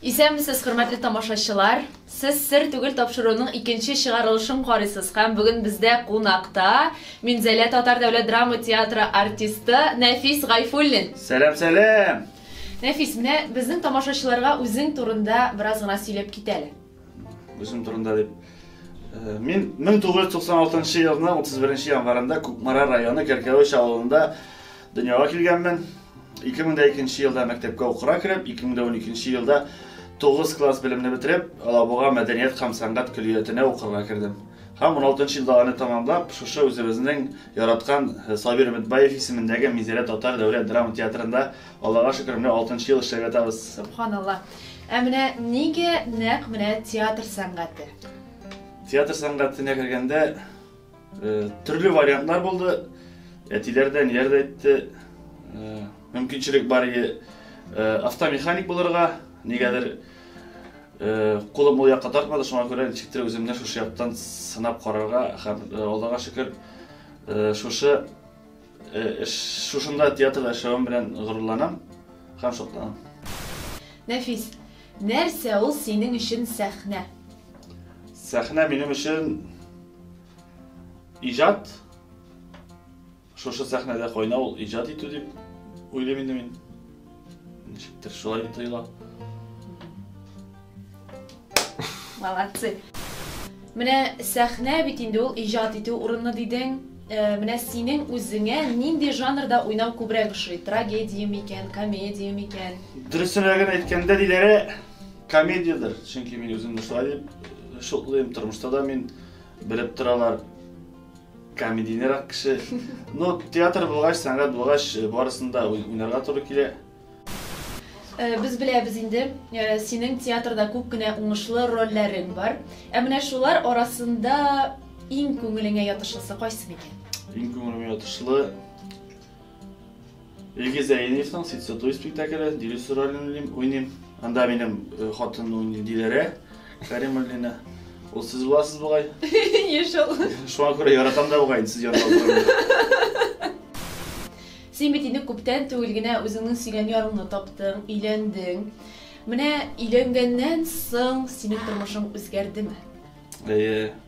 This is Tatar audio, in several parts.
Исәнмесез, хөрмәтле тамашачылар. Сез сер түгел тапшыруның икенче чыгарылышын карыйсыз һәм бүген бездә кунакта Минзәлә татар дәүләт драма театры артисты Нәфис Гайфуллин. Сәлам, сәлам. Нәфис, менә безнең тамашачыларга үзең турында бераз гына сөйләп кит әле. Үзем турында дип. Э, мин 1996 елның 31 январында Кукмара районы Кәркәвеч авылында дөньяга килгәнмен. 2002 елда мәктәпкә укырга кереп, 2012 елда 9 класс белемне бетереп, Алабуга мәдәният һәм сәнгать көллиятенә укырга кердем. Һәм уналтынчы елда аны тәмамлап, шушы үзебезнең яраткан Сабир Өметбаев исемендәге Минзәлә татар дәүләт драма театрында, Аллага шөкер, менә алтынчы ел эшләп ятабыз. Сөбханалла. Ә менә нигә нәкъ менә театр сәнгате? Театр сәнгатенә кергәндә төрле вариантлар булды. Әтиләр дә, әниләр дә әйтте, мөмкинчелек бар иде автомеханик булырга, нигәдер Кулым ул якка тартмады, шуңа күрә ничектер үземне шушы яктан сынап карарга һәм Аллага шөкер, шушы эш, шушында театрда эшләвем белән горурланам һәм шатланам. Нәфис, нәрсә ул синең өчен сәхнә? Сәхнә минем өчен иҗат. Шушы сәхнәдә кайнау ул иҗат итү дип уйлыйм инде мин. Ничектер шулай тоела. Молодцы. Менә сәхнә бит инде ул иҗат итү урыны дидең. Э, менә синең үзеңә нинди жанрда уйнау күбрәк ошый? Трагедия микән, комедия микән? Дөресрәген әйткәндә, диләре комедиядер. Чөнки мин үземне шулай дип шутлыйм. Тормышта да мин белеп торалар. Комедийнырак кеше. Ну, театр булгач, сәнгать булгач, э, барысында уйнарга туры килә. Э, без беләбез инде, э, синең театрда күп кенә уңышлы рольләрең бар. Ә менә шулар арасында иң күңелеңә ятышлысы кайсы микән? Иң күңелемә ятышлы Илгиз Әйниевның Ситсы туй спектакле, Дилүс ролен уйныйм. Анда минем э, хатын уйный Диләрә Кәримуллина. Ул сез буласыз бугай. Еш ул. Шуңа күрә яратам да бугай, сез янда утырам. Син бит инде күптән түгел генә үзеңнең сөйгән ярыңны таптың, өйләндең. Менә өйләнгәннән соң синең тормышың үзгәрдеме? Әйе.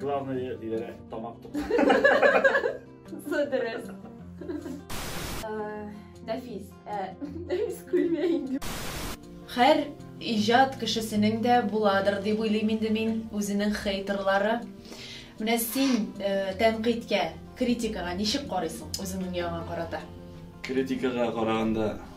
Главное, диләр, тамак тук. Содерес. Нәфис. Нәфис күлмә инде. Хәр иҗат кешесенең дә буладыр дип уйлыйм инде мин, үзенең хейтерлары. Менә син тәнкыйтькә, критикага ничек карыйсың үзеңнең яңа карата? Критикага караганда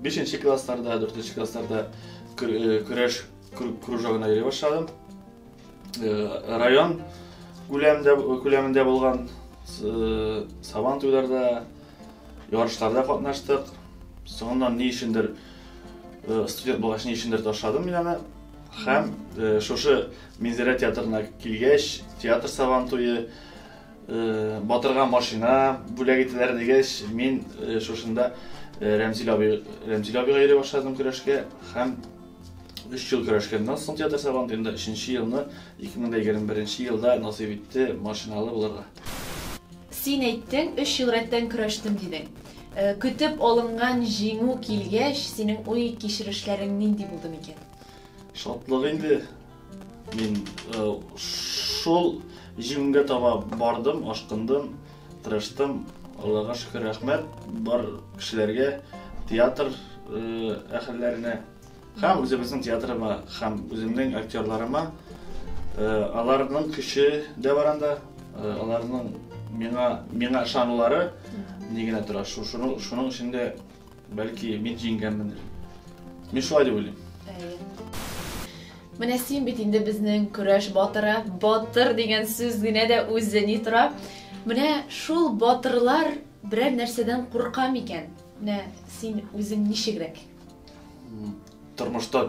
бишенче классларда дүртенче классларда көрәш кружогына йөри башладым район күләмендә күләмендә булган сабан туйларда ярышларда катнаштык соңыннан ни өчендер студент булгач ни өчендер ташладым мин аны һәм шушы минзәрә театрына килгәч театр сабан туе Батырга машина бүләк итәләр дигәч, мин шушында Рәмзил абый, Рәмзил абыйга йөри башладым көрәшкә һәм өч ел көрәшкәннән соң театр сайланды, инде өченче елны 2021 нче елда насыйп итте машиналы булырга. Син әйттең, өч ел рәттән көрәштем дидең. Көтеп алынган җиңү килгәч, синең уй-кичерешләрең нинди булды микән? Шатлык инде, Мин э, шул җиңүгә таба бардым, ашкындым, тырыштым. Аллага шөкер, рәхмәт бар кешеләргә, театр э, әһелләренә һәм үзебезнең театрыма һәм үземнең актерларыма. Э, аларның көче дә бар анда, аларның миңа миңа ышанулары ни генә тора. Шуның шуның өчен дә Бәлки мин җиңгәнмендер. Мин шулай дип уйлыйм. Менә син бит инде безнең көрәш батыры. Батыр дигән сүз генә дә үзе ни тора. Менә шул батырлар берәр нәрсәдән курка микән? Менә син үзең ничегрәк? Тормышта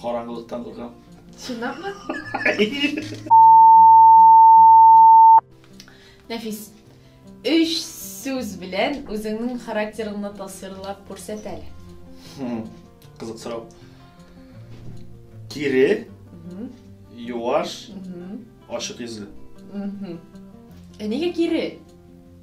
Караңгылыктан куркам. Чынлапмы? Нәфис, өч сүз белән үзеңнең характерыңны тасвирлап күрсәт әле. Кызык сорау. Кире, юаш, ачык йөзле. Ә нигә кире?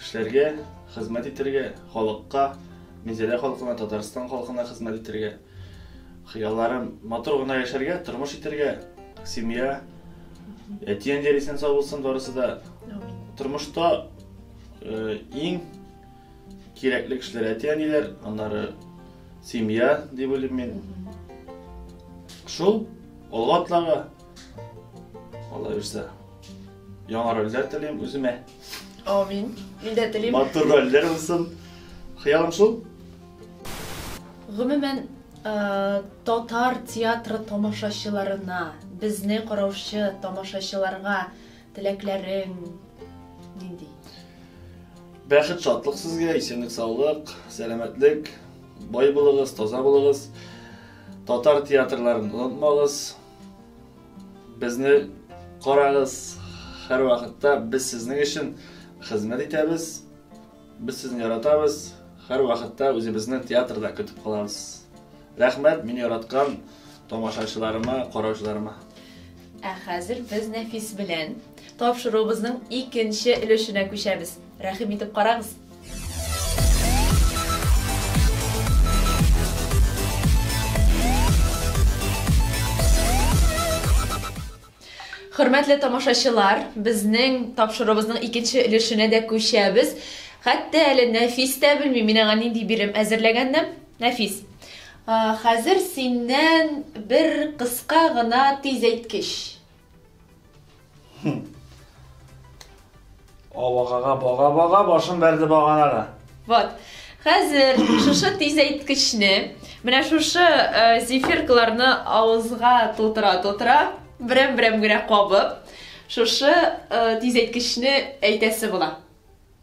Эшләргә, хезмәт итәргә, халыкка, Минзәлә халкына, Татарстан халкына хезмәт итәргә. Хыялларым, матур гына яшәргә, тормыш итәргә, семья, әти-әниләр исән-сау булсын барысы да. Тормышта иң кирәкле кешеләр әти-әниләр, аннары семья, дип уйлыйм мин. Шул, алга атларга. Калаверсә, яңа рольләр телим үземә. Амин. Мин дә телим. Матур рольләр булсын. Хыялым шул. Гомумән, э, татар театры тамашачыларына, безне караучы тамашачыларга теләкләрең нинди? Бәхет, шатлык сезгә, исәнлек, саулык, сәламәтлек, бай булыгыз, таза булыгыз. Татар театрларын онытмагыз. Безне карагыз һәрвакытта, без сезнең өчен хезмәт итәбез, без сезне яратабыз, һәрвакытта үзебезне театрда көтеп калабыз. Рәхмәт мин яраткан тамашачыларыма, караучыларыма. Ә хәзер без Нәфис белән тапшыруыбызның икенче өлешенә күчәбез. Рәхим итеп карагыз! Хөрмәтле тамашачылар, безнең тапшырыбызның икенче өлешенә дә күчәбез. Хәтта әле Нәфис тә белми, мин аңа нинди бирем әзерләгәннем. Нәфис, хәзер синнән бер кыска гына тиз әйткеч. Авагага бага-бага башын бәрде баганага. Вот. Хәзер шушы тизәйткечне, менә шушы э, зефиркаларны авызга тутыра-тутыра, берәм-берәм генә кабып, шушы э, тизәйткечне әйтәсе була.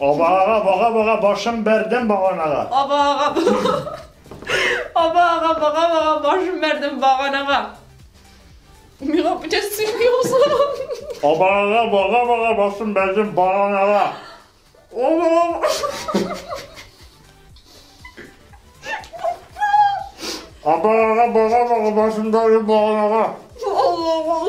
Абага бага бага башым бәрдем баганага. Абага Абага бага бага башым бәрдем баганага. Миңа бүтән сөйми узган. Абага бага бага башым бәрдем баганага. Абага Абага бага бага башым бәрдем баганага. Абага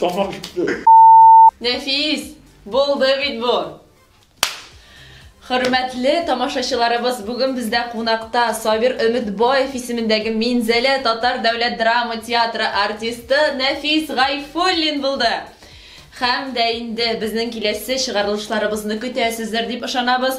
Тамак китте. Нәфис, булды бит бу. Хөрмәтле тамашачыларыбыз, бүген бездә кунакта Сабир Өметбаев исемендәге Минзәлә татар дәүләт драма театры артисты Нәфис Гайфуллин булды. Хәм дә инде безнең киләсе чыгарылышларыбызны көтәсездер дип ышанабыз.